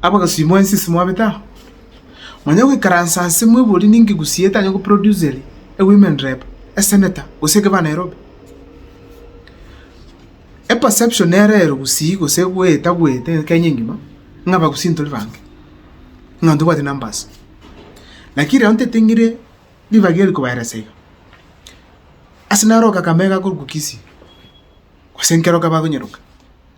Abagosimo ense ase mwabete aa, manya goikaransa ase mwebori ninki gusii etanya go producer a women rep, a senator gose a gavana Nairobi. E perception nero ero gusii gose goeta goeta Kenya engima ng'a abagusii ntori bange, ng'a ntobwati numbers. Lakini riria ontete ng'ire ribaga eri kobaeresa iga, ase naroka Kakamega korokwa Kisii, gose nkeroka bakonyeroka.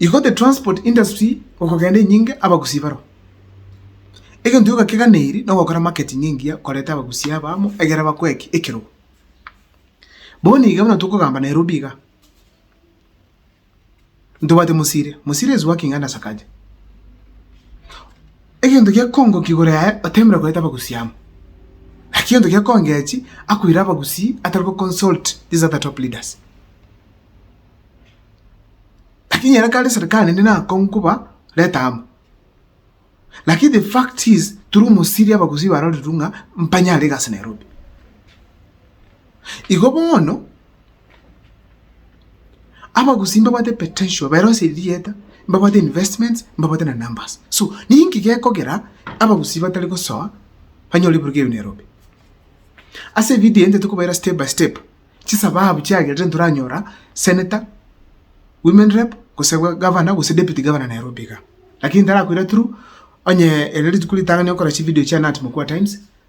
Igo the transport industry gokogenda enyinge abagusi baroo. Egento gioka keganeirie nogokora marketing engiya koreta abagusi aba amo egere bakoe ki? Ekerogo. Bono iga buna tokogamba Nairobi iga, ntobwate Mosiria, Mosiria is working under Sakaja. Egento gekongoka igoro yaye otemire koreta abagusii amo, naki egento gekongechi akoira abagusii atari go consult these other top leaders. Lakini ere kare serikali ende nakong'u koba reta amo. Lakini the fact is turi omosiri abagusii barorirwe ng'a mpanyare egasi Nairobi. Igo bono. Abagusii mbabwate potential, baerose erigieta, mbabwate investments, mbabwate na numbers. So, ninki gekogera abagusii batari gosoa banyore ebiruka ebio Nairobi? Ase evideo eye tokobaira step by step chisababu chiagerete ntoranyora senator, women rep, gose governor gose deputy governor Nairobi iga. Lakini ntarakoira through, onye ere rituko ritang'ani okora chividio chia Nat Mokua Times.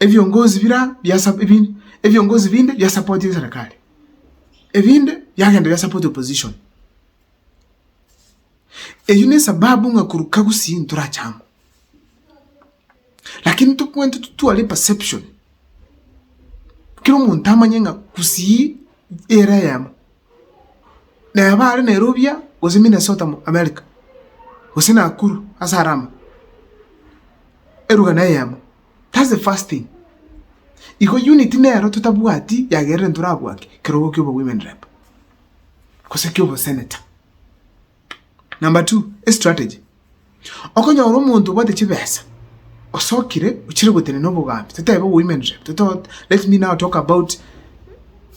ebiongozi biria bia ebiongozi binde bia supportinge serikali, ebinde biagenda bia support opposition. Eyio nesababu ng'a korwa kagusii ntorache amo. Lakini tokobua tware perception, kera omonto amanye ng'a gusii ere eyemo. neba are Nairobi aa, gose Minnesota America, gose Nakuru ase Alama, eruga neyemo, that's the first thing. Igo unit nero totabwati yagerire ntorabwate kerogo kia obo women rep, gose kia obo senator. Number two, estrategy. Okonyora omonto obwate chibesa, osokire ochire gotenena obogambi, totebe women rep, toto- let me now talk about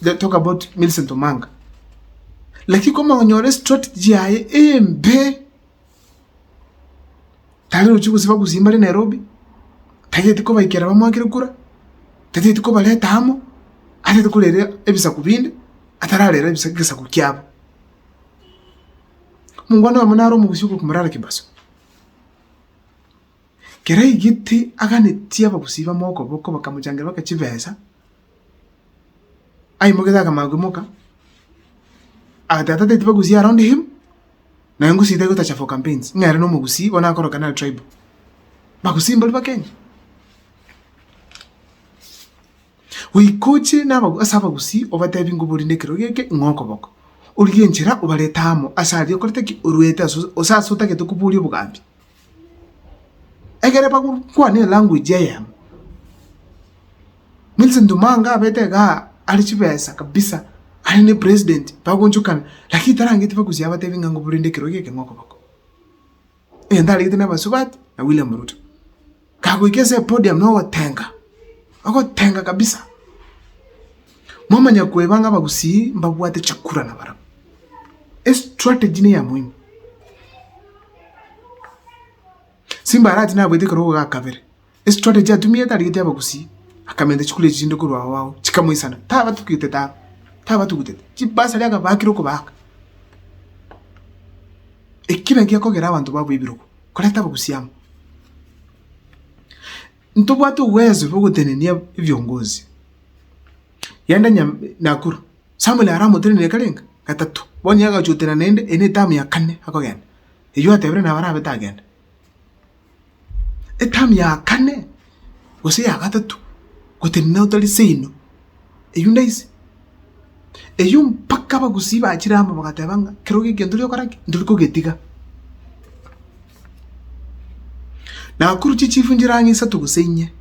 let talk about Millicent Omanga. Lakini komanya konyora estrategy yaye embe, tari rochia gosiba gusii mbare Nairobi, tageti kobaikera bamwakere kura, tageti kobareta amo, atagete korera ebisaku binde, atararera ebisa- egesaku kiabo. Mongwana oyomo nare omogusi ogokumora are kebaso. Kere aigete aganetie abagusi bamo okoboko bakamochangeria baka chibesa, aimoketie akamanya koimoka, agoteba, Tata eti bagusie around him, naye ngosie tari gotacha for campaigns, ng'a ere nomogusi bono akoroka naro tribal. Bagusi mbaria Bakenya. Goika oche ase abagusii, obateebie ng'a obori nekerogo eke ing'o okoboko. Origie enchera obarete amo ase aria okorete ki? Oruete ase gose ase otagete koboria obogambi. Egere bagokwane elanguage eyemo. Millicent Ndumanga abete igaa are chibesa kabisa, are ne president, bagochokana, lakini tarangeti bagusia abateebie ng'a obori nekerogo eke ing'o okoboko. egento aregete n'abasubati na William Ruto. Kagoika ase epodium na ogotenga, ogotenga kabisa. Momanya koeba ng'a abagusii mbabwate chikura na barabwo. Estrategy neya moino. Simba arati nabwate ekero ogoga kabere. Estori eria chiatumete arigete abagusii, akamenta chikure echi chinde korwa ao ao, chikamoisana. Tabatugete tawe, tabatugutete, chibasari akabaakire okobaaka. Eki naki gekogera abanto babe ebirogo, koreta abagusii amo. Ntobwate obwezo bwa ogotenenia ebiongozi, yaani onye Nakuru, Samuel aramotenenie karenge? Gatato. Bono nigo agachia gotenena naende, eye ne term ya kane akogenda. Eyio atebire nabo arabe tagenda. Etamu ya kane gose ya gatato gotenena otari seino, eyio ndaise. Eyio mpaka abagusii bachire amo bagateba ng'a kerogo ekio ntori gokora ki? Ntori kogetiga. Nakuru chichifu nchire ang'e isato gose inye,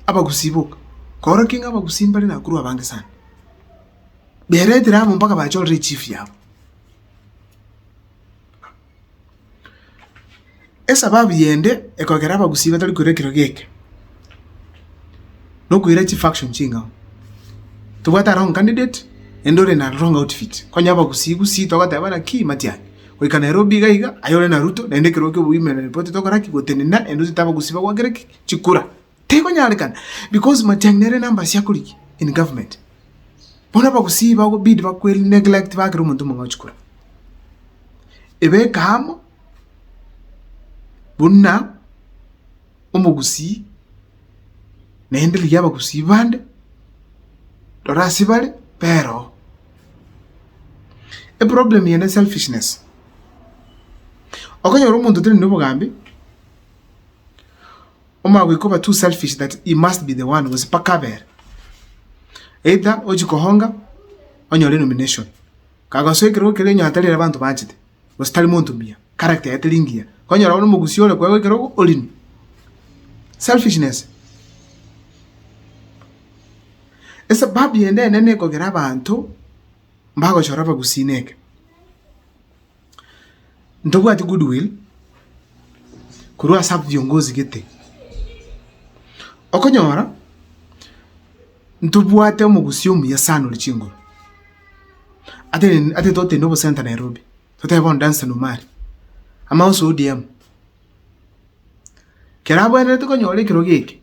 abagusii boka, korora ki ng'a abagusii mbare Nakuru abange sana. Baeretire amo mpaka bachorere echifu yabo. Esababu yende ekogera abagusii batari koira ekerogo eke, nokoira chifaction chingao. Tobwate wrong candidate ende ore na wrong outfit. Konya abagusii gusii togoteba ng'a ki matian, goika Nairobi iga iga aye ore na Ruto naende ekerogo kia women rep totokorakigoteni na ende otete abagusii bagwakere ki chikura. Tekonyarekana because Matiang'i nere number ase akoriki in government. Bono abagusii bakobidi bakweri neglect bakera omonto omong'ao chikura. Ebeka amo buna omogusii naende rigia abagusii bande rora ase bare bera oo. Eproblem eye ne selfishness. Okonyora omonto tari nobogambi. omagoika oba too selfish that he must be the one gose mpaka abere. Either ochi kohonga onyore nomination. Kagosoa ekerogo keria onye atari ere abanto baanchete gose tari monto muya, character yaye teri ngiya, konyora bono omogusie ore koegwa ekerogo orinwe. Selfishness. Esababu yende enene ekogera abanto mbagochora abagusii neke. Ntobwati goodwill korwa ase abwo biongozi gete. Okonyora ntobwate omogusii omuya sana ore chinguru. Ate totende obosenta Nairobi, totebe bono Danson Omari, ama onsi ODM. keragwenerete konyora ekerogo eke.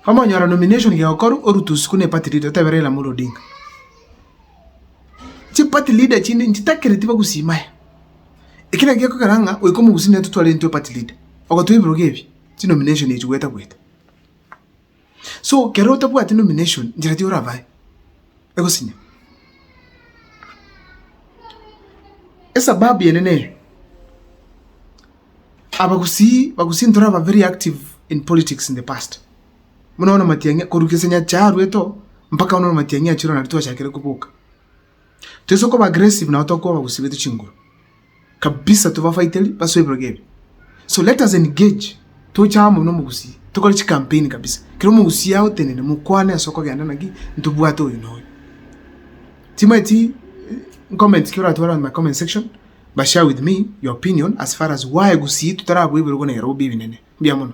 Omonyora nomination gegokorwa orutwe isiko ne party leader otebe Raila Amolo Odinga. Chi party leader chinde nchitakereti bagusima aye. Eki naki gekogera ng'a goika omogusii netotware intwe party leader. Ogotoa ebirogo ebi, chinomination echi gwetagweta. So kero otabwati nomination njera ki orabae? Egosinya. Esababu eye neye, abagusii bagusii ntoraba very active in politics in the past. Buna bono Matiang'i korwa gese Nyasaye arwete oo mpaka bono Matiang'i achire oo nario twachakire koboka. Toise koba aggressive nabo tokoba abagusii baito chinguru kabisa tobafaiteri base ebirogo ebi so let us engage toche amo buna omogusii tokore chicampaign kabisa kera omogusii agotenene mokwane ase okogenda naki ntobwate oyo na oyo timanyeti comment ki oratware on my comment section but share with me your opinion as far as why gusii totarabua ebirogo na ebirogo bia ebinene. Mbuya mono.